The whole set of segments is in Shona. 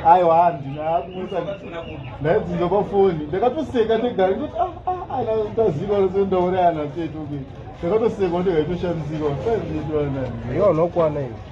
aiwa handinakusa ndaidzinza pafoni ndakatoseka ndegari ndoti ndaziva rose ndaurayana teto ndakatoseka ndega itoshandisirwa saizvitwanani iyo unokwana iyo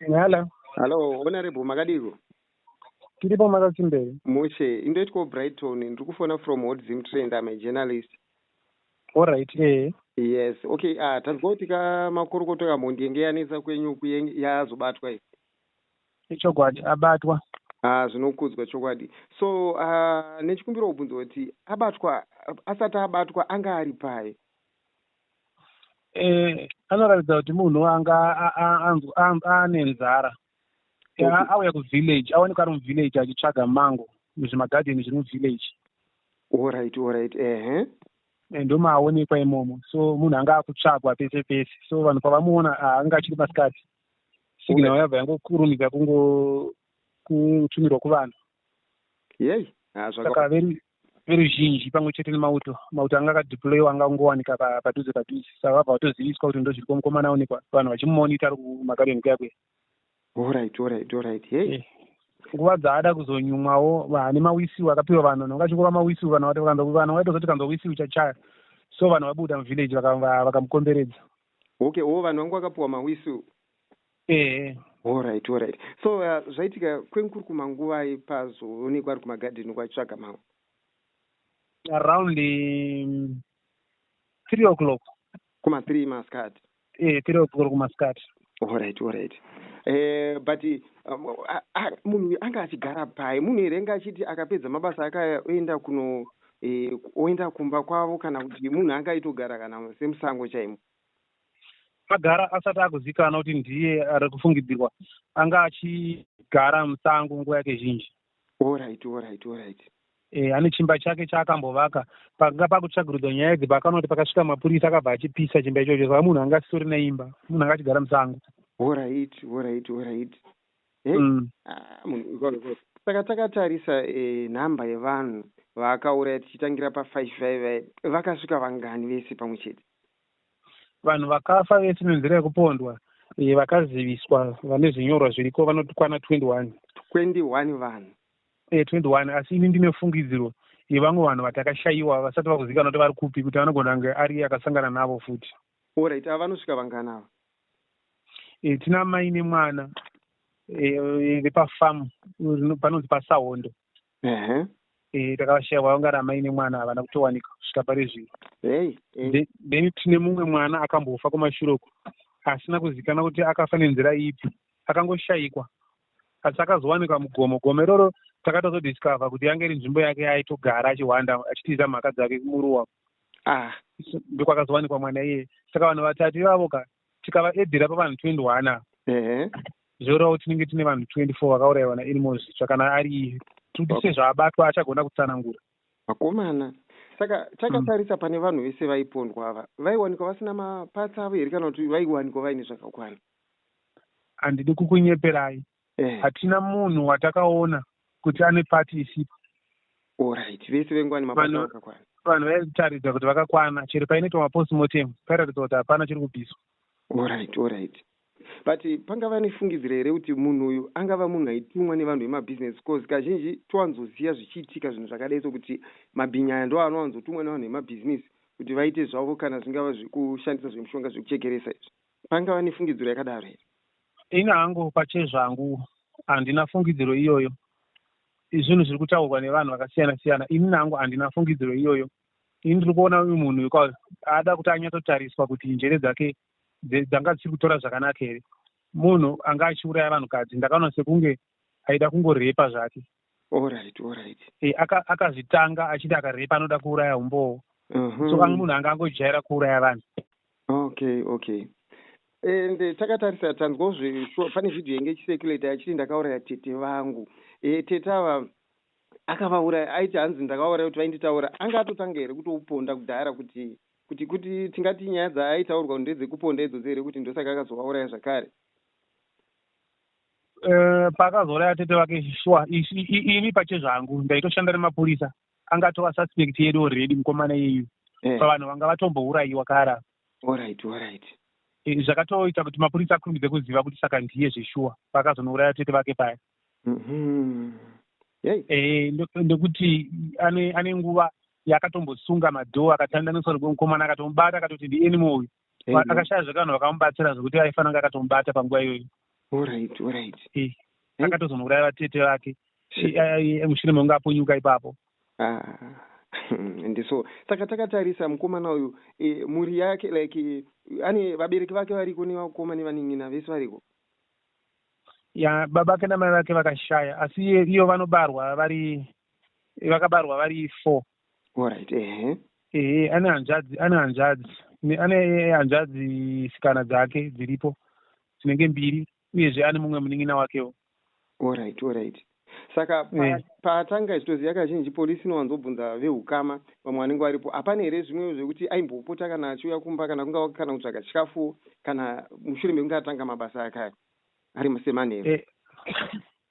Hello. Hello, honorable makadiko? Tiripo makasimbei? Mushe, indoitwa Brighton, ndiri kufona from Hot Zim Trend, I'm a journalist. All right, eh. Yes, okay, ah uh, tazwa kuti ka makorokoto ka mhondi yenge yanetsa kwenyu kuye yazobatwa iyi. Ichokwadi abatwa. Ah, zvinokudzwa chokwadi. So, uh, nechikumbira kubvunza kuti abatwa asati abatwa anga ari pai? eh, anoratidza kuti munhu anga ane nzara auya kuvillage aoneka ari muvillage achitsvaga mango muzvimagadheni zviri muvillage orit orit ehe eh, ndomaaonekwa imomo so munhu anga akutsvagwa pese pese so vanhu pavamuona ah, anga achiri masikati signal yabva yangokurumidza kungotumirwa kuvanhu yei ah, saka veruzhinji pamwe chete nemauto mauto anga akadeployiwa anga kungowanika padhuze padhuze saka vabva vatoziviswa kuti ndozviri ko mukomana aonekwa vanhu vachimumonita ari kumagarden kuyakwe orit orit orit hei eh, nguva dzaada kuzonyumwawo vane mawisiu akapiwa vanhu nonga achingova mawisiu vanhu vanhu vaitozoti kanzwa wisiu chachaya so vanhu vabuda muvillage vakamukomberedza okay o vanhu vangu vakapiwa mawisiu ehe horit horit so uh, zvaitika kwenkuru kumanguvai pazoonekwa ari kumagadheni uko achitsvaga mamwe around um, three o'clock kuma three maskat e eh, three o'clock kumaskat horit horit Eh, but um, munhu anga achigara pai munhu here anga achiti akapedza mabasa akaenda kuno eh, oenda kumba kwavo kana kuti munhu anga aitogara kana semusango chaimo agara asati akuzikanwa kuti ndiye ari kufungidzirwa anga achigara musango nguva yake zhinji orit orit orit e, ane chimba chake chaakambovaka pakanga pakutsvagirudzwa nyaya idzi pakanoti pakasvika mapurisa akabva achipisa chimba ichocho saka munhu anga asisori neimba munhu anga achigara musango orit orit orit eh, mm. ah, saka takatarisa eh, nhamba yevanhu vaakauraya tichitangira pafive vaive vakasvika vangani vese pamwe chete Vanhu vakafa vese nenzira yekupondwa eh, vakaziviswa vane zvinyorwa zviriko vanoti kwana 21. 21 vanhu. Eh, 21 asi ini ndine fungidziro yevamwe vanhu vatakashaiwa vasati vakuzikanwa kuti vari kupi kuti anogona kunge ari akasangana navo futi. Alright, ava vanosvika vangani ava? Eh, tina mai nemwana eh, vepafamu panonzi pasahondo. uh-huh. e, takavashaya vaunga ramai nemwana havana kutowanika kusvika pari zvino hey, hey. then tine mumwe mwana akambofa kumashure uko asina kuzikana kuti akafa nenzira ipi akangoshayikwa asi akazowanikwa mugomo gomo iroro takatozodiscover kuti yange iri nzvimbo yake yaaitogara achihwanda achitiza mhaka dzake kumuruwa ah. ndokwakazowanikwa mwana iye saka vanhu vatatu ivavo ka tikavaedhera pavanhu 21 ava zvoreva kuti tinenge tine vanhu 24 vakaurayiwa nailmos zvitsva kana ari tuti sezvaabatwa achagona kutsanangura vakomana saka hmm. takatarisa pane vanhu vese vaipondwa ava vaiwanikwa vasina mapatsa avo here kana kuti vaiwanikwa vaine zvakakwana handidi kukunyeperai eh. hatina munhu watakaona kuti ane pati isipo orit vese vengwani mabasa vakakwana vanhu vaitaridza kuti vakakwana chero painoitwa mapostmortem paitaridza kuti hapana chiri kubviswa orit orit but pangava nefungidziro here kuti munhu uyu angava munhu aitumwa nevanhu vemabhizinesi bcause kazhinji towanzoziva zvichiitika zvinhu zvakadai sokuti mabhinyi aya ndo anowanzotumwa nevanhu vemabhizinesi kuti vaite zvavo kana zvingava zvekushandisa zvemushonga zvekuchekeresa izvi Pangava nefungidziro yakadaro here? Ini hangu pachezvangu handina fungidziro iyoyo. Zvinhu zviri kutaurwa nevanhu vakasiyana siyana, ini nangu handina fungidziro iyoyo. Ini ndiri kuona uyu munhu because ada kuti anyatsotariswa kuti njere dzake dzanga dzisiri kutora zvakanaka here. Munhu anga achiuraya vanhukadzi, ndakaona sekunge aida kungorepa zvake. Alright, alright. Eh, aka- akazvitanga achiti akarepa anoda kuuraya umbowo Mhm. so ang- munhu anga angojaira kuuraya vanhu okay okay and eh, takatarisa tanzwawo zve sure pane video yenge ichiseculator yachiti ndakauraya tete vangu e, tete ava akavauraya aiti hanzi ndakauraya kuti vainditaura anga atotanga here kutouponda kudhara kuti kuti kuti tingati nyaya dzaaitaurwa ndedzekuponda idzodzo here kuti ndosaka akazovauraya zvakare Eh, paakazouraya tete vake shuwa ini pache zvangu ndaitoshanda nemapurisa anga atova suspect yedu already mukomana yeyu eh. pavanhu vanga vatombourayiwa kara eh, zvakatoita kuti mapurisa akurumbidze kuziva kuti saka ndiye zveshuwa paakazonouraya tete vake paya mm-hmm. ndokuti ane nguva yaakatombosunga madhoo akatandaniswa mukomana akatomubata akatoti ndianimo uyu akashaya zvekanhu vakamubatsira zvekuti aifanira kunge akatomubata panguva iyoyo orit orit akatozonouraya vatete vake mushure mekunge apunyuka ipapo ah. and so saka takatarisa mukomana uyu e, mhuri yake like e, ane vabereki vake variko nevakoma nevanin'ina vese variko ya baba vake namai vake vakashaya asi iyo vanobarwa vari vakabarwa vari four Alright, ehe. Ehe, ane hanzvadzi, ane hanzvadzi. Ane hanzvadzi sikana dzake dziripo dzinenge mbiri uyezve ane mumwe munin'ina wakewo. Alright, alright. Saka eh. paatanga pa, zvitoziva kazhinji polisi inowanzobvunza vehukama vamwe vanenge varipo hapana here zvimwewo zvekuti aimbopota kana achiuya kumba kana kunga kana kutsvaga chikafuwo kana mushure mekunge atanga mabasa ake aya ari musemanheru eh,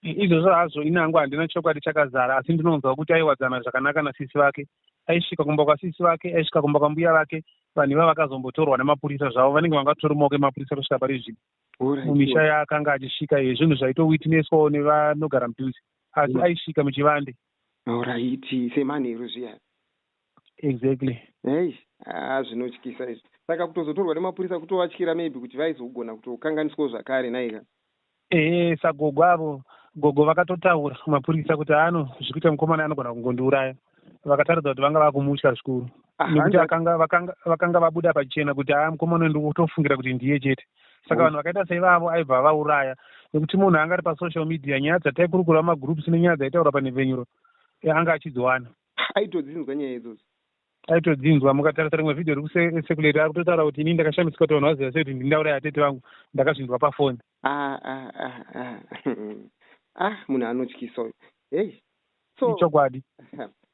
izvozvo hazvo ini hangu handina chokwadi chakazara asi ndinonzwa kuti aiwadzana zvakanaka nasisi vake aisvika kumba kwasisi vake aisvika kumba kwambuya vake vanhu iva vakazombotorwa nemapurisa zvavo vanenge vangatori maoko emapurisa kusvika pari zvipi mumisha yaakanga achisvika iye zvinhu zvaitowitnesswawo nevanogara mudhuze asi mm. aisvika muchivande oraiti semanheru zviya exactly eish aa zvinotyisa izvi saka kutozotorwa nemapurisa kutovatyira maybe kuti vaizogona kutokanganiswawo zvakare naika ehe sagogo avo gogo vakatotaura mapurisa kuti ano zviri kuita mukomana anogona kungondiuraya vakataridza kuti vanga vakumutya zvikuru Ah, nekuti hanzi- akanga- vakanga vakanga vabuda pachena kuti aa mukomana uyu ndikutofungira kuti ndiye chete saka vanhu vakaita seivavo aibva avauraya nekuti munhu anga ari pasocial media nyaya dzataikurukura mumagroups nenyaya dzaitaura panhepfenyuro eh, anga achidziwana aitodzinzwa nyaya idzodzo aitodzinzwa mukatarisa rimwe vhidhiyo riri sekuleta ari kutotaura kuti ini ndakashamisika kuti vanhu vaziva sei kuti ndindaura yatete vangu ndakazvinzwa pafoni ah, ah, ah, ah munhu anotyisa uyu hei so ichokwadi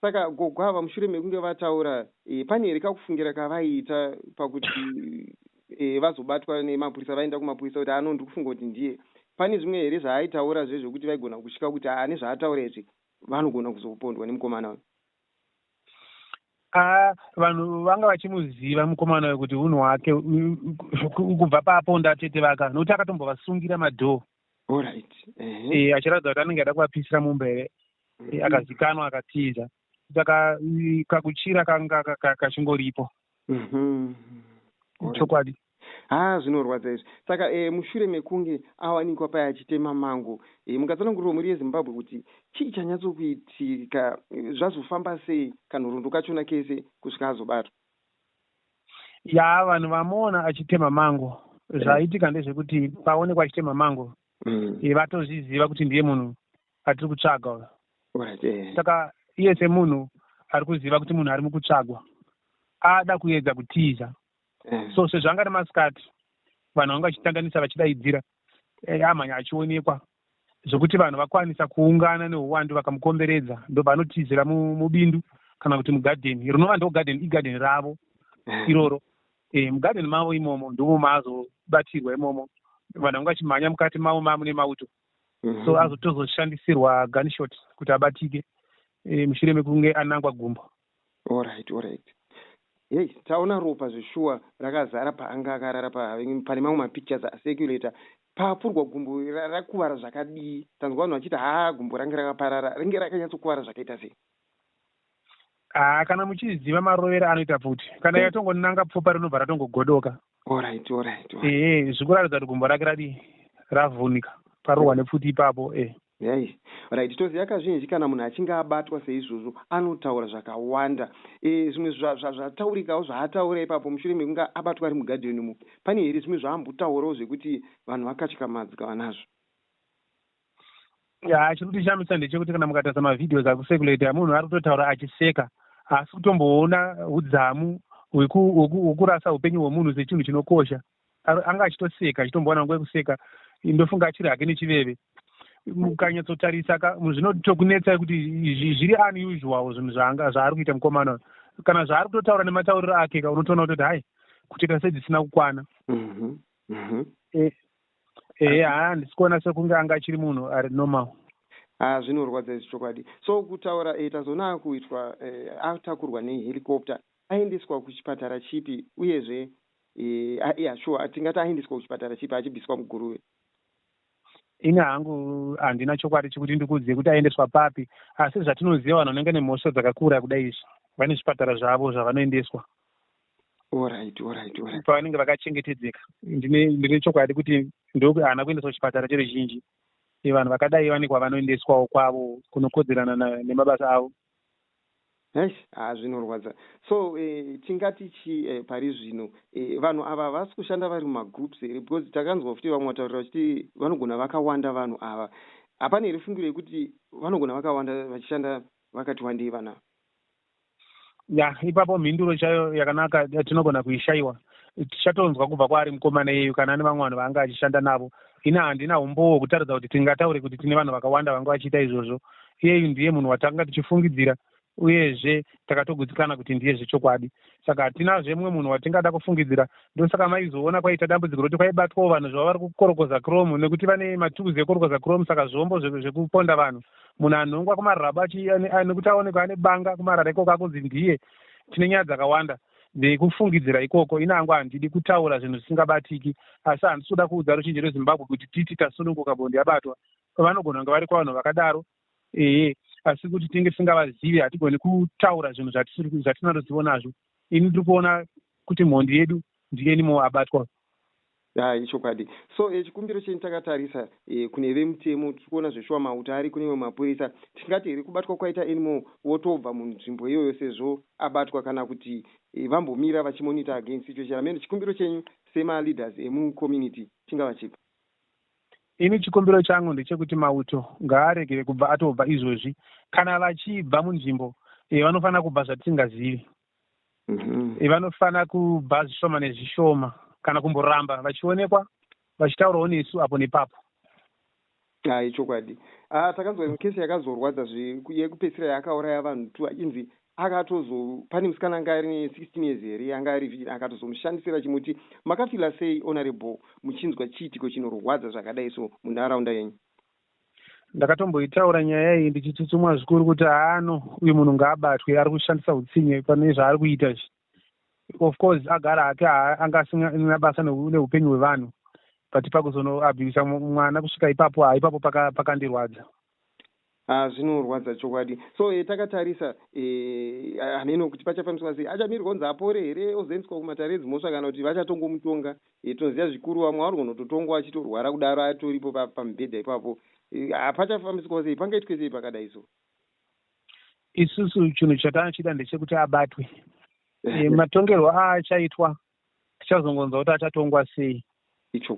saka gogo ava mushure mekunge vataura e, pane here kakufungira kavaiita pakuti e, vazobatwa nemapurisa vaenda kumapurisa kuti ano ndiri kufunga kuti ndiye pane zvimwe here zvaaitaura zve zvekuti vaigona kushika kuti ane zvaataura izvi vanogona kuzokupondwa nemukomana uyu a vanhu vanga vachimuziva mukomana uyo kuti unhu wake kubva paaponda tete vaka nokuti akatombovasungira madhoo orit e, achiratidza kuti anenge ada kuvapisira mumba here mm. e, akazikanwa akatiza saka kakuchira kanga kachingoripo mm-hmm. chokwadi Haa zvinorwadza izvi. Saka eh, mushure mekunge awanikwa paya achitema mango, eh, mungatsanangurirwa mhuri yeZimbabwe kuti chii chanyatsokuitika, eh, zvazofamba sei kanhoroondo kachona kese kusvika azobatwa? Yaa vanhu vamuona achitema mango zvaitika ndezvekuti paonekwa achitema mango Mm. eh, vatozviziva kuti ndiye munhu atiri kutsvaga uyo Right, eh. saka iye semunhu ari kuziva kuti munhu ari mukutsvagwa ada kuedza kutiza eh. so sezvanga ari masikati vanhu vanga vachitandanisa vachidaidzira eh, amhanya achionekwa zvekuti vanhu vakwanisa kuungana neuwandu vakamukomberedza ndobva anotizira mubindu kana kuti mugadheni rinova ndo gadheni igadheni ravo eh. iroro e, mugadheni mavo imomo ndomo maazobatirwa imomo vanhu vanga vachimhanya mukati mavo mamune mauto mhm. so azotozoshandisirwa gunshot kuti abatike e, mushure mekunge anangwa gumbo Alright alright Hey taona ropa zveshuwa rakazara paanga akarara pa, pane mamwe mapictures acirculator paapfurwa gumbo ra, rakuvara zvakadii tanzwa vanhu vachiti haa gumbo range rakaparara ringe rakanyatsokuvara zvakaita sei Ah, kana muchiziva marovera anoita pfuti kana Dai. yatongonanga pfupa rinobva ratongogodoka Alright alright alright. ehe zvikuratidza kuti gumbo rake radii ravhunika parohwa nepfuti ipapo eh Nhai. Right toziva kazhinji kana munhu achinge abatwa seizvozvo anotaura zvakawanda eh zvimwe zva zva zvataurikawo zvaataura ipapo mushure mekunge abatwa ari mugarden umo pane here zvimwe zvaambotaurawo zvekuti vanhu vakatyamadxka vanazvo. Yaa chiri kutishamisa ndechekuti kana mukatarisa mavideos ari kusekuleta munhu ari kutotaura achiseka haasi kutomboona hudzamu weku, weku, wekurasa upenyu hwemunhu sechinhu chinokosha anga achitoseka achitombowana nguva yekuseka ndofunga achiri hake nechiveve mukanyatsotarisa ka zvinotokunetsa kuti zviri unusual zvinhu zvanga zvaari kuita mukomana uyu kana zvaari kutotaura nematauriro ake ka unotoona kutoti hai kutoita sedzisina kukwana mhm, mhm. Eh, ehe haa handisi kuona sekunge anga achiri munhu ari normal haa ah, zvinorwadza izvi chokwadi so kutaura e tazoona akuitwa e, atakurwa nehelicopter aendeswa kuchipatara chipi uyezve yeah, yeah, sure hatingati aendeswa kuchipatara chipi achibviswa muguruve ini hangu handina chokwadi chekuti ndikuzive kuti aendeswa papi asi zvatinoziva vanhu vanenge nemhosva dzakakura kudai izvi vane zvipatara zvavo zvavanoendeswa pavanenge vakachengetedzeka ndine chokwadi kuti ndohaana kuendeswa kuchipatara cheruzhinji vanhu vakadai vane kwavanoendeswawo kwavo kunokodzerana nemabasa avo Eish haa zvinorwadza so eh, tingati chi eh, pari zvino eh, vanhu ava havasi kushanda vari mumagroups here because takanzwa futi vamwe vataurira vachiti vanogona vakawanda vanhu ava hapana here fungiro yekuti vanogona vakawanda vachishanda vakati wandei vanhu ava ya ipapo mhinduro chaiyo yakanaka eh, tinogona kuishaiwa tichatonzwa kubva kwaari mukomana iyeyu kana ane vamwe vanhu vaanga achishanda navo ini handina umbowo hwekutaridza kuti tingataure kuti tine vanhu vakawanda vanga vachiita izvozvo iyeyu ndiye munhu watanga tichifungidzira uyezve takatogutsikana kuti ndiye zvechokwadi saka hatinazve mumwe munhu watingada kufungidzira ndosaka maizoona kwaita dambudziko roti kwaibatwawo vanhu zvava vari kukorokoza chrome nekuti vane matukuzi ekukorokoza chrome saka zvombo zvekuponda vanhu munhu anhongwa kumarabo nekuti aonekwa ane banga kumarara ikoko akunzi ndiye tine nyaya dzakawanda ndikufungidzira ikoko ini angu handidi kutaura zvinhu zvisingabatiki asi handisi kuda kuudza ruzhinji rwezimbabwe kuti titi tasununguka bondi yabatwa vanogona kunge vari kwavanhu vakadaro ehe asi kuti tinge tisingavazivi hatigoni kutaura zvinhu zvatina ruzivo nazvo ini ndiri kuona kuti mhondi yedu ndiye nimo abatwa Yaa ichokwadi so e, chikumbiro chenyu takatarisa e, kune vemutemo tirikuona zveshuwa mauta ariko nemwe mapurisa tingati here kubatwa kwaita anymore wotobva munzvimbo iyoyo sezvo abatwa kana kuti e, vambomira vachimonita again situation ameno chikumbiro chenyu sema leaders emu community chingava chipi ini chikumbiro changu ndechekuti mauto ngaaregere kubva atobva izvozvi kana vachibva munzvimbo e, vanofanira kubva zvatisingazivi mhm. eh, vanofanira kuba zvishoma nezvishoma kana kumboramba vachionekwa vachitaurawo nesu apo nepapo ha ichokwadi ah, takanzwa mukesi yakazorwadza yekupedzisira yaakauraya vanhu two achinzi akatozo pane musikana anga ari ne16 years here anga ari vhii akatozomushandisira chimuti makafila sei honorable muchinzwa chiitiko chinorwadza zvakadai so munharaunda yenyu Ndakatomboitaura nyaya iyi ndichitsutsumwa zvikuru kuti haano uyu munhu ngaabatwe ari kushandisa utsinye pane zvaari kuita izvi. Of course agara hake anga asina basa neupenyu hwevanhu but pakuzonoabhiyusa mwana kusvika ipapo ha ipapo pakandirwadza paka Ah, zvinorwadza chokwadi so eh, takatarisa eh, hameno kuti pachafambiswa sei achamirirwa kunzi apore here ozoendeswa kumatare edzimhosva kana kuti vachatongomutonga Iye tinoziva zvikuru vamwe vanogona kutotongwa achitorwara kudaro atoripo pamubhedha ipapo haa pachafambiswa sei pangaitwe sei pakadai so. Isusu chinhu chatanochida ndechekuti abatwe e, matongerwo aachaitwa tichazongonzwa kuti achatongwa sei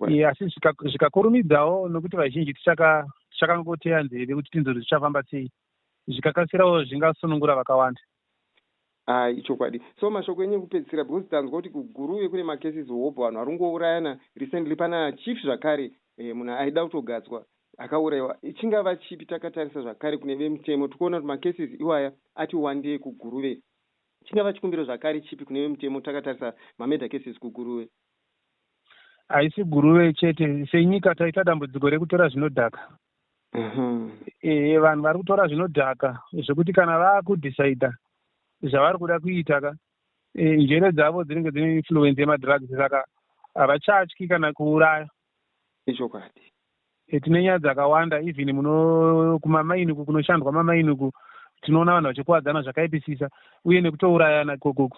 e, asi zvikakurumidzawo nokuti vazhinji tichakangoteya nzeve kuti tinzwe kuti zvichafamba sei zvikakasirawo zvingasunungura vakawanda. Ah ichokwadi. So mashoko enyu ekupedzisira because tanzwa kuti kuGuruve kune macases hobho vanhu vari kungourayana recently pana chief zvakare eh, munhu aida kutogadzwa akauraiwa chingava chipi takatarisa zvakare kune vemutemo tikuona kuti macases iwaya ati wandei kuGuruve chingava chikumbiro zvakare chipi kune vemutemo takatarisa mamurder cases kuGuruve. Haisi Guruve chete senyika taita dambudziko rekutora zvinodhaka. Mhm. Eh, vanhu vari kutora zvinodhaka zvekuti kana vakudecida zvavari kuda kuita ka eh, njere dzavo dzinenge dzine influence yemadrugs saka havachatyi kana kuuraya ichokwadi Eh, tine nyaya dzakawanda even muno kumamaini uku kunoshandwa mamaini uku tinoona vanhu vachikuwadzana zvakaipisisa uye nekutourayana ikokoko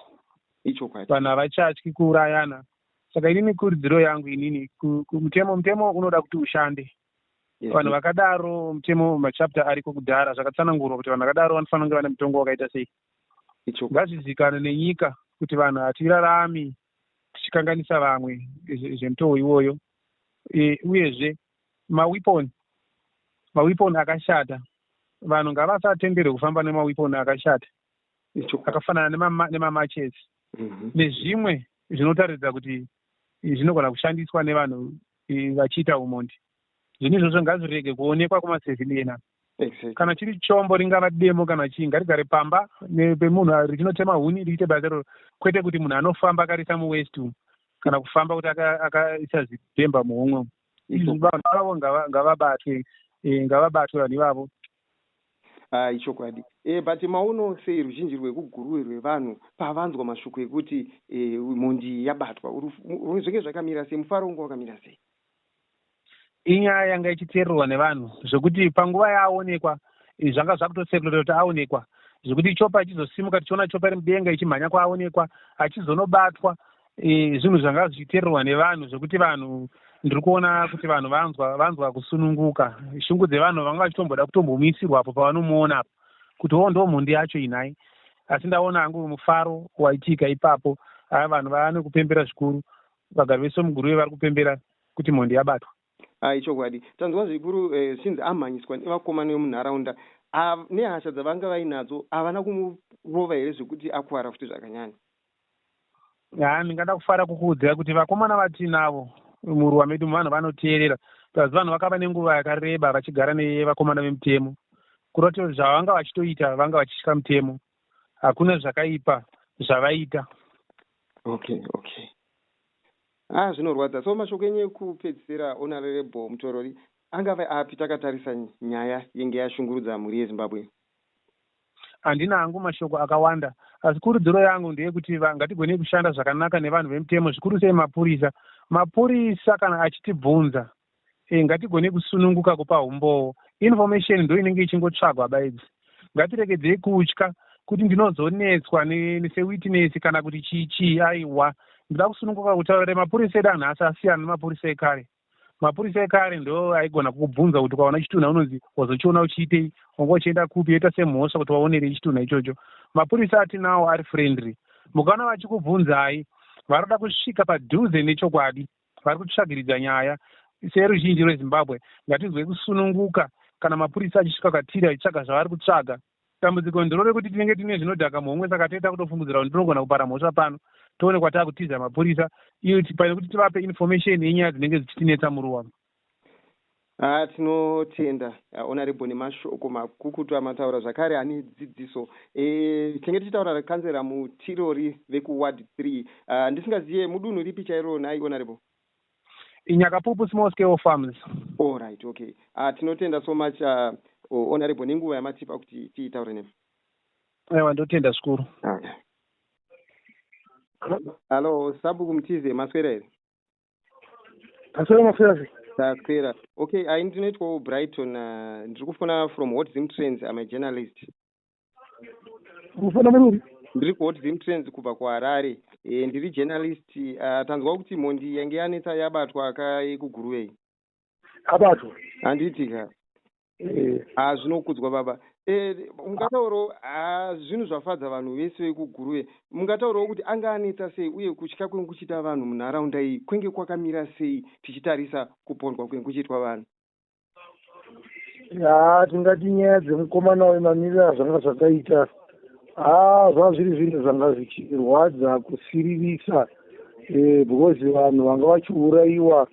ichokwadi vanhu havachatyi kuurayana saka inini kurudziro yangu inini ku- ku- mutemo mutemo unoda kuti ushande vanhu vakadaro mutemo machapter ariko kudhara zvakatsanangurwa kuti vanhu vakadaro vanofanira kunge vane mutongo wakaita sei ngazvizikane nenyika kuti vanhu hatirarami tichikanganisa vamwe zvemutoo iwoyo e, uyezve mawepon mawepon akashata vanhu ngavasatenderwe kufamba nemawepon akashata akafanana nemamachets mhm. nezvimwe zvinotaridza kuti zvinogona kushandiswa nevanhu e, vachiita humondi zvinhu izvozvo ngazvirege kuonekwa kumaseviliena exactly. kana chiri chombo ringava demo kana chii ngarigare pamba pemunhu ah, richinotema huni riite basa iroro kwete kuti munhu anofamba akarisa muwest umu kana kufamba kuti akaisa zidemba muhomwe umu izvi vanhu vavo ngavabatwe e, ngavabatwe vanhu ivavo Ah ichokwadi eh but maono sei ruzhinji rwekuGuruwe rwevanhu pavanzwa mashoko ekuti eh mhondi iyi yabatwa uru zvenge zvakamira sei mufaro wanga wakamira sei. Inyaya yanga ichiteererwa nevanhu zvekuti panguva yaaonekwa eh, zvanga zvakutosekuleta kuti aonekwa zvekuti chopa ichizosimuka tichiona chopa iri mudenga ichimhanya kwaaonekwa achizonobatwa e, zvinhu zvanga zvichitererwa nevanhu zvekuti vanhu ndiri kuona kuti vanhu vanzwa vanzwa kusununguka shungu dzevanhu vanga vachitomboda kutombomuisirwa apo pavanomuona apo kuti wo ndo mhondi yacho inhai asi ndaona hangu mufaro waitika ipapo aa vanhu vaane kupembera zvikuru vagari vese muguruve vari kupembera kuti mhondi yabatwa ah, ichokwadi tanzwa zvikuru eh, zvichinzi eh, amhanyiswa nevakomana vemunharaunda ah, nehasha dzavanga vainadzo havana kumurova here zvekuti akuvara futi zvakanyanya haa ndingada kufara kukuudzai kuti vakomana vatiinavo muruwa medu muvanhu vanoteerera plus vanhu vakava nenguva yakareba vachigara nevakomana vemutemo kuroti zvavanga vachitoita vanga vachitya mutemo hakuna zvakaipa zvavaita okay okay ah zvinorwadza so mashoko enyu ekupedzisira honorable mutorori angave api takatarisa nyaya yenge yashungurudza mhuri yezimbabwe Handina hangu mashoko akawanda asi kurudziro yangu ndeyekuti va, ngatigonei kushanda zvakanaka nevanhu vemutemo zvikuru sei mapurisa. Mapurisa kana achitibvunza e, ngatigonei kusununguka kupa humbowo. Information ndoinenge ichingotsvagwa bedzi. Ngatiregedzei kutya kuti ndinozonetswa ne, sewitness kana kuti chii chii aiwa. Ndinoda kusununguka kutaura. Remapurisa edu anhasi asiyana nemapurisa ekare. mapurisa ekare ndo aigona kukubvunza kuti kwaona chitunha unonzi wazochiona uchiitei wanga uchienda kupi yoita semhosva kuti waonerei chitunha ichocho mapurisa atinawo ari friendly mukaona vachikubvunzai vari kuda kusvika padhuze nechokwadi vari kutsvagiridza nyaya seruzhinji rwezimbabwe ngatinzwei kusununguka kana mapurisa achisvika kwatiri achitsvaga zvavari kutsvaga Dambudziko ndiro rekuti tinenge tine zvinodhaka muhomwe saka toita kutofungidzira kuti ndinogona kupara mhosva pano toonekwa taakutiza mapurisa iyo pane kuti tivape information yenyaya dzinenge dzichitinetsa muruwa. Ah, tinotenda honorable nemashoko makukutu amataura zvakare ane dzidziso e, tinenge tichitaura rekanzera mutirori vekuward three ah, ndisingazive mudunhu ripi chairo nhai honorable Nyakapupu small scale farms. All right, okay. Uh, tinotenda so much uh, honorable nenguva yamatipa kuti tiitaure nemi. Ewa ndotenda zvikuru. Okay. Hello, Sabuku Mtize, maswera here? Maswera maswera sei? Taswera. Okay, uh, ini ndinoitwawo Brighton, uh, ndiri kufona from Hot Zim Trends, I'm a journalist. mufana muruvi ndiri kuhot zim trends kubva kuharare e, ndiri journalist uh, tanzwa kuti mhondi yange yanetsa yabatwa akaikuguruvei abatwa handiti ka eh. ha zvinokudzwa baba e, mungataurawo ha zvinhu zvafadza vanhu vese vekuguruve mungataurawo kuti anga anetsa sei uye kutya kwenge kuchiita vanhu munharaunda iyi kwenge kwakamira sei tichitarisa kupondwa kwenge kuchiitwa vanhu haa tingati nyaya dzemukomana uyu mamiriro azvanga zvakaita haa zvanga zviri zvinhu zvanga zvichirwadza kusiririsa eh, because vanhu vanga vachiurayiwa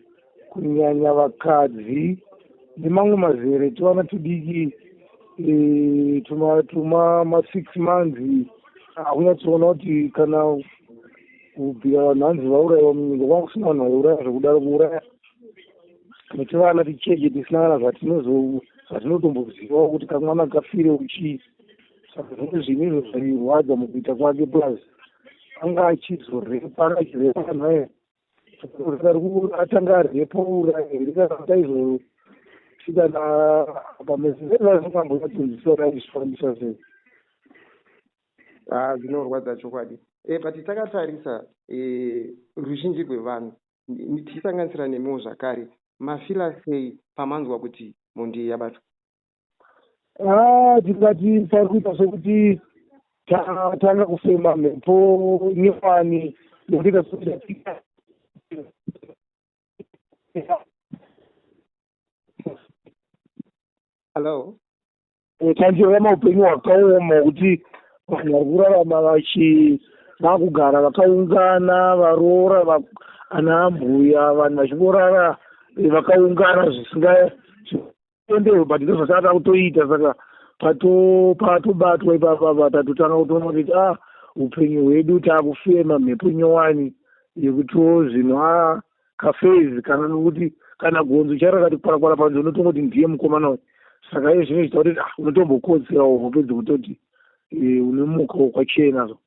kunyanya vakadzi nemamwe mazere tivana tudiki eh, tuma tuma masix months hakunyatsoona kuti kana kubvira vanhu hanzi vaurayiwa munyika kwanga kusina vanhu vaiuraya zvekudaro kuuraya nekuti vana ticheche tisina kana zvatinotombozivawo kuti kamwana kafire uchii saka zvimwe zvinhu izvo zvairwadza mukuita kwake plus anga achizorepa anga achirepa vanhu aye atanga arepa uraya here kana kuti aizosvika na pamezezezazvingamboyatsinziswa raizvifambisa sei haa ah, zvinorwadza chokwadi e eh, but takatarisa e eh, ruzhinji rwevanhu tichisanganisira nemiwo zvakare mafila sei pamanzwa kuti mhondi iyi yabatwa ah, tingati pari kuita sekuti tatanga kufema mhepo nyowani nekuita sekuti hallo eh, tandirama upenyu hwakaoma hwekuti vanhu vari kurarama vachi vakugara vakaungana varoora ana ambuya vanhu vachingorara eh, vakaungana zvisingaendewe but ndo zvasaka takutoita saka patobatwa ipapapa tatotanga kutoona kuti a ah, upenyu hwedu takufema mhepo nyowani yekutiwo zvinhu a ah, kafezi kana nokuti kana gonzo charakati kwarakwara panze unotongoti ndiye mukomana uyu saka iye zvino chita kuti ah, unotombokotsirawo hope dzekutoti e, une muka wokwachena so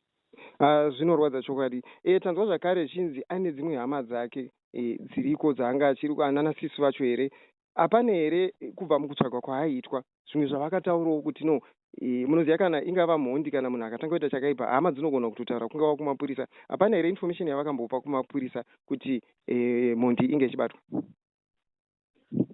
ah, zvinorwadza chokwadi e, tanzwa zvakare chinzi ane dzimwe hama dzake e, dziriko dzaanga achiri anana sisi vacho here hapane here kubva mukutsvagwa kwaaiitwa zvimwe zvavakataurawo kuti no e, munoziva kana ingava mhondi kana munhu akatanga kuita chakaipa hama dzinogona kutotaura kungava kumapurisa hapana here information yavakambopa kumapurisa kuti e, mhondi inge ichibatwa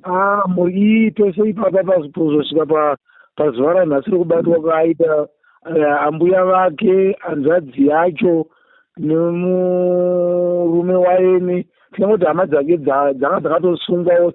ah, mhuri iyi pese ipapa pazosvika pazuva ranhasi rekubatwa kwaaita eh, ambuya vake hanzvadzi yacho pa, nemurume waini tinongoti hama dzake dzanga dzakatosungwawo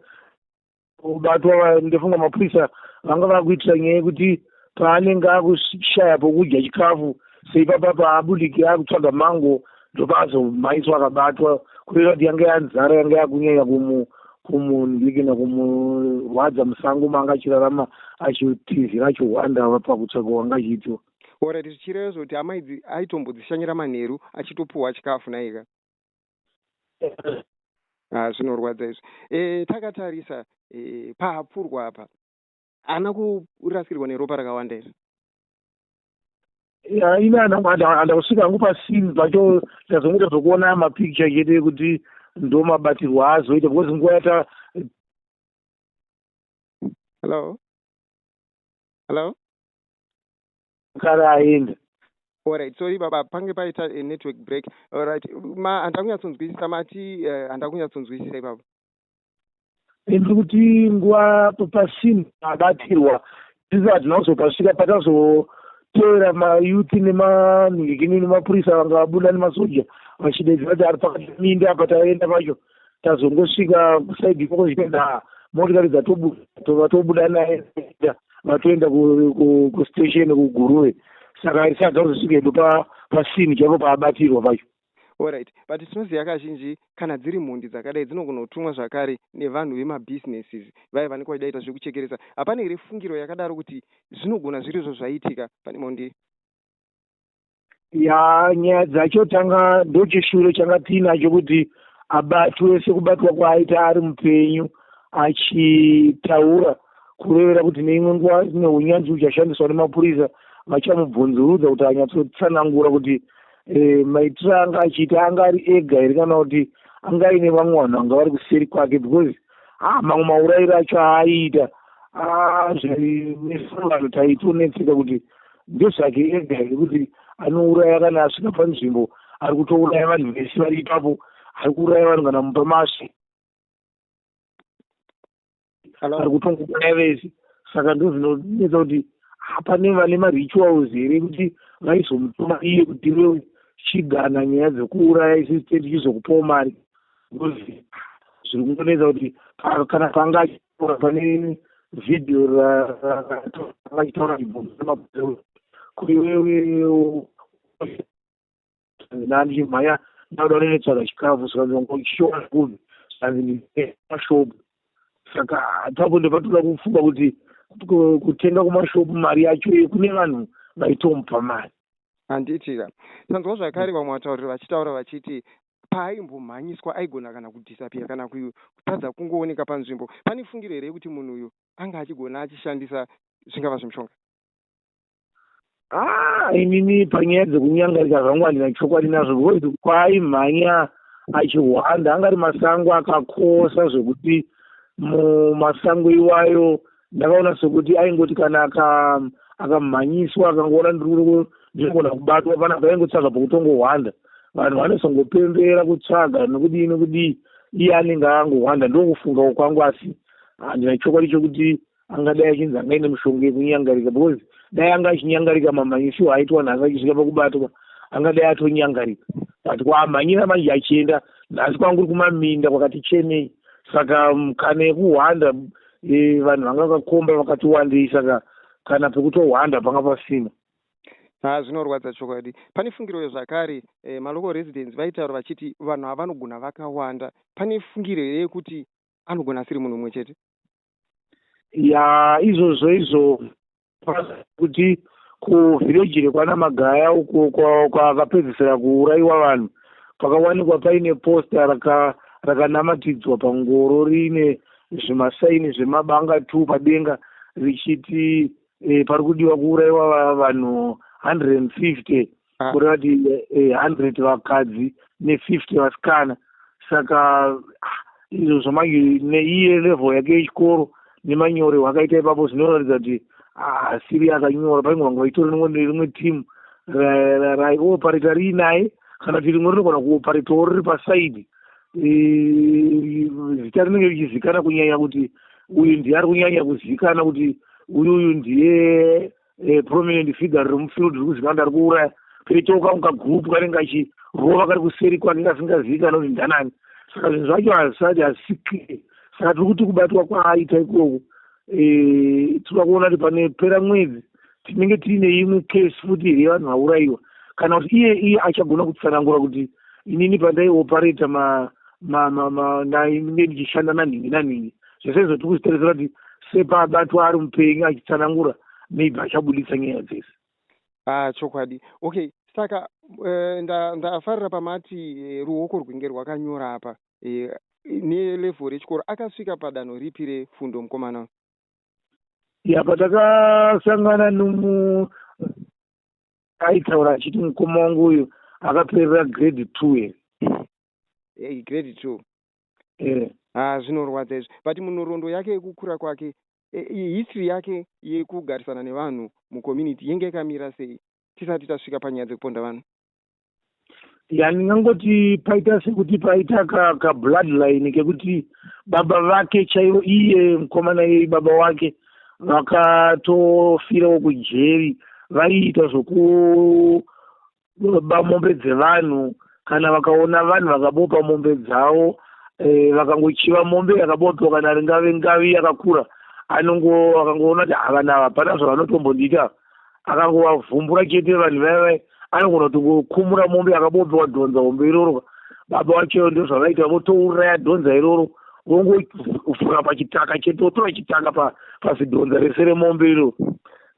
kubatwa ndofunga mapurisa vanga vakuitira nyaya yekuti paanenge akushaya pokudya chikafu seipapa paabudike akutsvaga mango ndopazomhaiswa akabatwa kureva kuti yanga yanzara yanga yakunyanya kumu kumundikina kumurwadza musango maanga achirarama achitizira achihwanda pakutsvaga wanga achiitiwa Alright zvichireva izvo kuti hama idzi aitombodzishanyira manheru achitopuhwa chikafu naika. Ah, zvinorwadza izvi. Eh, takatarisa eh, pahapfurwa apa. Ana kurasikirwa neropa rakawanda izvi. Ya, ini ana ana ana kusvika hangu pasini pacho ndazongoita zvokuona mapicture chete ekuti ndo mabatirwo azoita because nguva yata Hello? Hello? kare aenda Alright, sorry baba, pange paita a network break. Alright, ma handina kunyatsonzwisisa mati uh, handina kunyatsonzwisisa ipapa. Ndiri kuti nguva papasini abatirwa sisi hatina kuzopasvika patazoteera mayouth nemanhikini nemapurisa vanga vabuda nemasoja vachidedzera kuti ari pakati minda apa taenda pacho tazongosvika kusaidi ikoko zvichida motikari dzatobuda tobuda naye vatoenda kustation kuguruve saka isada kuzosvika edu pasini chaipo paabatirwa pacho orit but tinoziva kazhinji kana dziri mhondi dzakadai dzinogona kutumwa zvakare nevanhu vemabusinesses vaye vanenge vachidaita zvekuchekeresa hapana here fungiro yakadaro kuti zvinogona zvirizvo zvaiitika pane mhondi ya nyaya dzacho tanga ndochishure changa tiinacho kuti abatwe sekubatwa kwaaita ari mupenyu achitaura kurevera kuti neimwe nguva neunyanzvi uchashandiswa nemapurisa vachamubvunzurudza kuti anyatsotsanangura kuti e, maitiro anga achiita anga ari ega here kana kuti anga aine vamwe vanhu vanga vari kuseri kwake because ah, mamwe maurairo acho aaiita ah, zvevanhu taitonetseka kuti ndezvake ega here kuti anouraya kana asvika panzvimbo ari kutouraya vanhu vese vari ipapo ari kuuraya vanhu kana mupa masvi ari kutongouraya vese saka ndozvinonetsa kuti hapane vane marituals here kuti vaizomutuma iye kuti iwe chigana nyaya dzekuuraya isisiteti chizokupawo mari ngozi zviri kungonetsa kuti kana panga achitaura pane vhidhiyo raachitaura ibomaaeu kuti wewe nani mhaya ndauda unenetsvaga chikafu saka ngochiona kuvi sanzimashopu saka hatapo ndopatoda kufunga kuti kutenga kumashopu mari yacho iye kune vanhu vaitomupa mari handitika tanzwa zvakare vamwe vatauriri vachitaura vachiti paaimbomhanyiswa aigona kana kudhisapiya kana kutadza kungooneka panzvimbo. Pane fungiro here yekuti munhu uyu anga achigona achishandisa zvingava zvemushonga? Ah, inini panyaya dzekunyangarika zvangu handina chokwadi nazvo because kwaaimhanya achihwanda anga ari masango akakosa zvekuti mumasango iwayo ndakaona sokuti aingoti kana akamhanyiswa akangoona ndiri ndinogona kubatwa pana paingotsvaga pokutongohwanda vanhu vanosongopembera kutsvaga nokudii nokudii iye anenge angohwanda ndokufungawo kwangu asi handina chokwadi chokuti angadai achinzi anga ine mushonga yekunyangarika because dai anga achinyangarika mamhanyisiwo aitwa nhasi achisvika pakubatwa angadai atonyangarika but kwaamhanyira manje achienda nhasi kwanguri kumaminda kwakati chenei saka mukana yekuhwanda e, vanhu vanga vakakomba vakati wandei saka kana pekutohwanda panga pasina ha zvinorwadza chokwadi pane fungiro yezvakare e, malocal residents vaitaura vachiti vanhu ava vanogona vakawanda pane fungiro here yekuti anogona asiri munhu umwe chete ya izvozvo izvo kuti kuvhireji rekwana magaya uko kwakapedzisira kuurayiwa vanhu pakawanikwa paine posta raka rakanamatidzwa pangoro riine zvimasaini zvemabanga two padenga richiti e, pari kudiwa kuurayiwa vanhu 150 ah. kureva kuti eh, eh, hundred vakadzi nefifty vasikana saka ah, izvo zvamanje neiye level yake yechikoro nemanyore hwakaita ipapo zvinoratidza kuti asiri ah, akanyora paimwe vanga vachitori rimwe team raiopareta riinaye kana kuti rimwe rinogona kuoparetawo riri pasaidi eh, zita rinenge richizikana kunyanya kuti uyu ndiye ari kunyanya kuzikana kuti uyu uyu ndiye eh, prominent figure riri mufield riri kuzikanwa kuti ari kuuraya toitawo kamwe kagroup kanenge kachirova kari kuseri kwake kasingazivikanwa kuti ndanani saka zvinhu zvacho hazvisati hazisi clear saka tiri kuti kubatwa kwaaita ikoko eh, tinoda kuona kuti pane pera mwedzi tinenge tiine imwe case futi here vanhu vaurayiwa kana kuti iye iye achagona kutsanangura kuti inini pandaioparata ma ma ma ma ndainge ndichishanda nanhingi nanhingi zvese izvo tiri kuzvitarisira kuti sepaabatwa ari mupenyu achitsanangura maybe achabuditsa nyaya dzese ah chokwadi okay saka uh, ndafarira nda pamati uh, ruoko rwinge rwakanyora apa uh, nelevhel rechikoro akasvika padanho ripi refundo mukomana ya patakasangana nomu aitaura achiti mukoma wangu uyu akaperera grade two here hey, grade two eh. ah, zvinorwadza izvi but munhoroondo yake yekukura kwake eh, history yake yekugarisana nevanhu mucommunity yenge yakamira sei tisati tasvika panyaya dzekuponda vanhu ya ndingangoti paita sekuti paita kabloodline ka kekuti baba vake chaivo iye mukomana yei baba wake vakatofirawo kujeri vaiita zvoku vanoba mombe dzevanhu kana vakaona vanhu vakabopa mombe dzavo eh, vakangochiva mombe yakabopiwa kana ringave ngavi yakakura anongo akangoona kuti havana hapana zvavanotombondiita akangovavhumbura chete vanhu vaiva anogona kutongokumura mombe akabopiwa dhonza hombe iroro baba vacho ndozvavaita votouraya dhonza iroro vongovhura pachitaka chete votora chitanga pazidhonza rese remombe iroro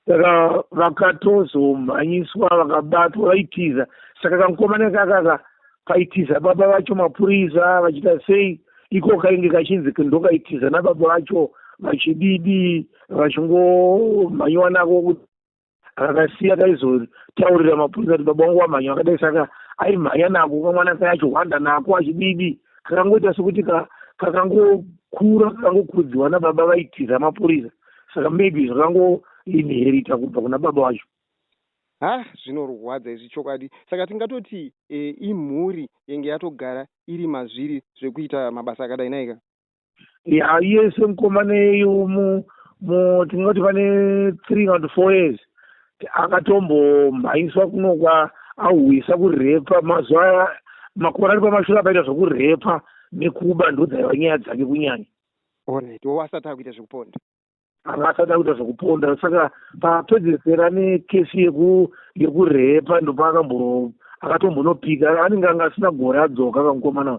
saka vakatozomhanyiswa vakabatwa vaitiza saka kamukomana kakaka kaitiza baba vacho mapurisa vachita sei iko kainge kachinzi ndokaitiza nababa vacho vachididi vachingomhanyiwa nako kuti akakasiya kaizotaurira mapurisa kuti baba wangu wamhanya akadai saka aimhanya nako kamwana kayacho hwanda nako achididi kakangoita sekuti kakangokura kakangokurudziwa nababa vaitiza mapurisa saka maybe zvakango inherita kubva kuna baba wacho ha zvinorwadza izvi chokwadi saka tingatoti e, imhuri yenge yatogara iri mazviri zvekuita mabasa akadai naika ya yese mukomaneyo mu mu tingati pane three kana kuti four years akatombomhanyiswa kunokwa ahwisa kurepa mazuva makore ari pamashura apaita zvekurepa nekuba ndodzaiva nyaya dzake kunyanya Alright, wo asati akuita zvekuponda. Anga asati akuita zvekuponda saka papedzesera ne case yeku yekurepa ndopaakamboro akatombonopika anenge anga asina gore adzoka kamukomana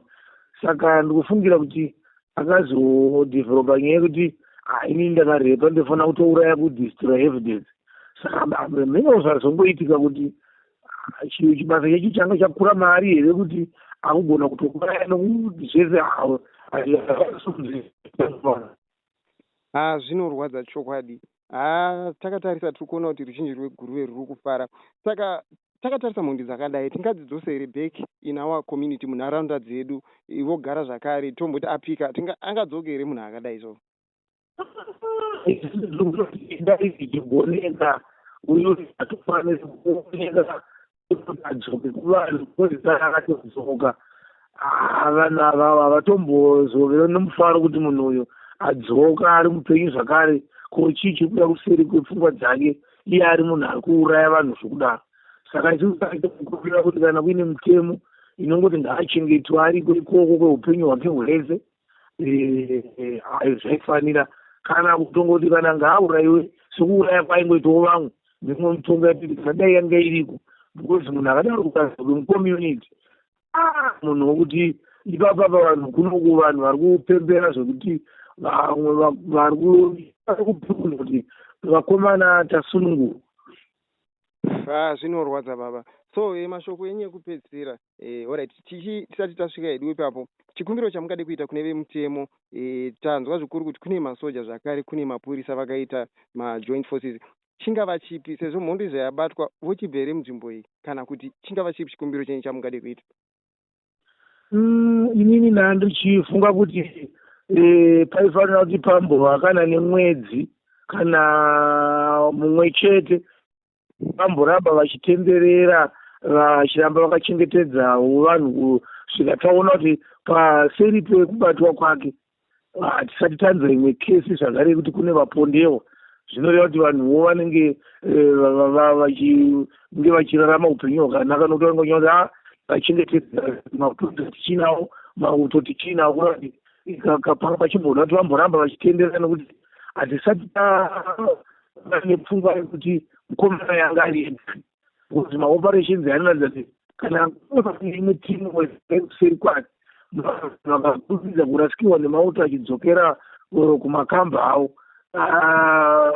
saka ndikufungira kuti akazodevelopa nyaya yekuti haini ndakarepa ndofanira kutouraya kudestroy evidence saka mhino zvazongoitika kuti Ah, chinhu chibasa chechi changa chakura maari here kuti akugona kutouraya nokuti zvese havo ha zvinorwadza chokwadi ha takatarisa tiri kuona kuti ruzhinji rweguruve ruri kufara saka takatarisa mhondi dzakadai tingadzidzose here back in our community munharaunda dzedu vogara zvakare tomboti apika angadzoke here munhu akadai so ndaiigoneka uyu atofanira kuoneka adzoke kuvanhu koisara akatodzoka ah, vanhu ava havatombozove nomufaro kuti munhu uyu adzoka ari mupenyu zvakare ko chii chiri kuda kuseri kwepfungwa dzake iye ari munhu ari kuuraya vanhu zvokudaro saka chikuaitakukurira kuti kana kuine mitemo inongoti ngaachengetwa ariko ikoko kweupenyu hwake hwese eh, zvaifanira kana kutongoti kana ngaauraiwe sokuuraya kwaingoitawo vamwe mimwe mitongo yatiti kana dai yanga iriko because munhu akadaro kukazoke mucommunity ah, munhu wokuti ipapa pavanhu kunoku vanhu vari kupembera zvekuti vamwe vari kupikuna kuti vakomana tasunungurwa ah, zvinorwadza baba so eh, mashoko enyu ekupedzisira E, alright tichi tisati tasvika hedu ipapo chikumbiro chamungade kuita kune vemutemo e, tanzwa zvikuru kuti kune masoja zvakare kune mapurisa vakaita majoint forces chingava chipi sezvo mhondo izva yabatwa vochibva here munzvimbo iyi kana kuti chingava chipi chikumbiro chenyu chamungade kuita mm, inini ndaa ndichifunga kuti e, paifanira kuti pambova kana nemwedzi kana mumwe chete vamboramba vachitenderera vachiramba vakachengetedzawo vanhu kusvika taona kuti paseri pekubatwa kwake hatisati tanza imwe kesi zvakare yekuti kune vapondewa zvinoreva kuti vanhuwo vanenge eh, vachinge vachirarama upenyu hwakanaka nokuti vanenge vachina kuti a ah, vachengetedza mauto tichinawo mauto tichinawo kureva kuti kapanga pachimboda kuti vamboramba vachitenderera nokuti hatisati vane pfungwa yekuti mukomana yanga ari yedani because maoperations anoratidza kuti kana imwe timu wekuseri kwake vakakurumidza kurasikirwa nemauto achidzokera oro kumakamba avo ah,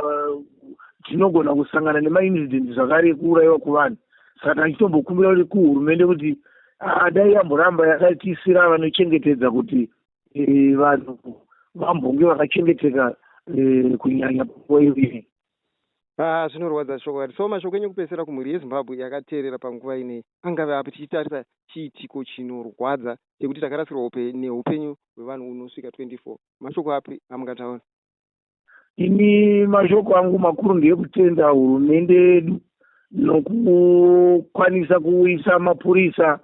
tinogona kusangana nemaincident zvakare ekuurayiwa kuvanhu saka tachitombokubira kuti kuhurumende kuti ah, dai yamboramba yakatiisira vanochengetedza kuti e, vanhu vambonge vakachengeteka e, kunyanya panguva iyoyi Ah, zvinorwadza chokwadi so mashoko enyu kupesera kumhuri yezimbabwe yakateerera panguva inei angave api tichitarisa chiitiko chinorwadza chekuti takarasirwa upe neupenyu hwevanhu unosvika 24 mashoko api amungataura ini mashoko angu makuru ndeekutenda hurumende yedu nokukwanisa kuuyisa mapurisa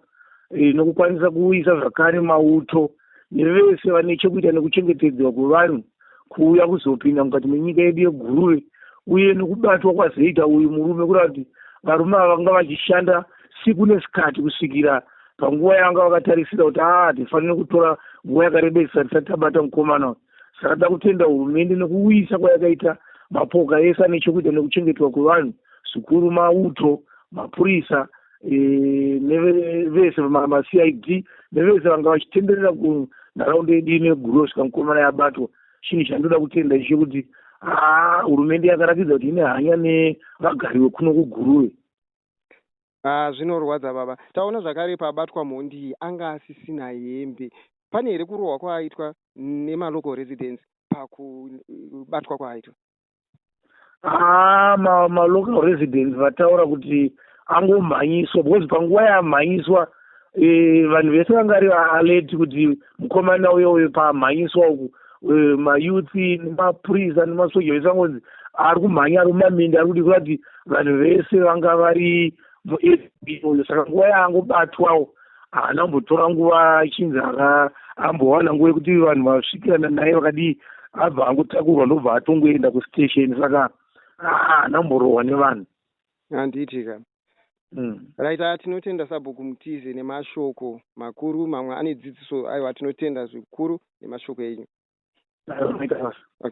eh, nokukwanisa kuuyisa zvakare mauto nevese vane chekuita nekuchengetedzwa kwevanhu kuuya kuzopinda mukati menyika yedu yeguruve uye nokubatwa kwazoita uyu murume kureva kuti varume ava vanga vachishanda siku nesikati kusvikira panguva yavanga vakatarisira kuti aa ah, tifanire kutora nguva yakarebesa tisati tabata mukomana uyu saka toda kutenda hurumende nekuuyisa kwayakaita mapoka ese ane chokuita nekuchengetwa kwevanhu zvikuru mauto mapurisa e, nevese macid nevese vanga vachitenderera kunharaunda yedu ine gurosvika mukomana yabatwa chinhu chandoda kutenda icho kuti haa hurumende yakaratidza kuti ine hanya nevagari vekuno kuguruve Ah, zvinorwadza baba. Taona zvakare pabatwa mhondi iyi anga asisina hembe. Pane here kurohwa kwaaitwa nemalocal residents pakubatwa kwaaitwa? Ah, ma, ma local residents vataura kuti angomhanyiswa because panguva yaamhanyiswa e, vanhu vese vanga vari alert kuti mukomana uyo uyo pamhanyiswa uku e, mayutsi nemapurisa nemasoja vese vangonzi ari kumhanya ari mumaminda ari kuti kurati vanhu vese vanga vari muasb uyo saka nguva yaangobatwawo haana kumbotora nguva achinzi ambowana nguva yekuti vanhu vasvikirana naye vakadii abva angotakurwa ndobva atongoenda kustation saka haana kumborohwa nevanhu handiti ka Mm. Right, ah, tinotenda sabhuku mutize nemashoko makuru mamwe ane dzidziso aiwa tinotenda zvikuru nemashoko enyu. Okay.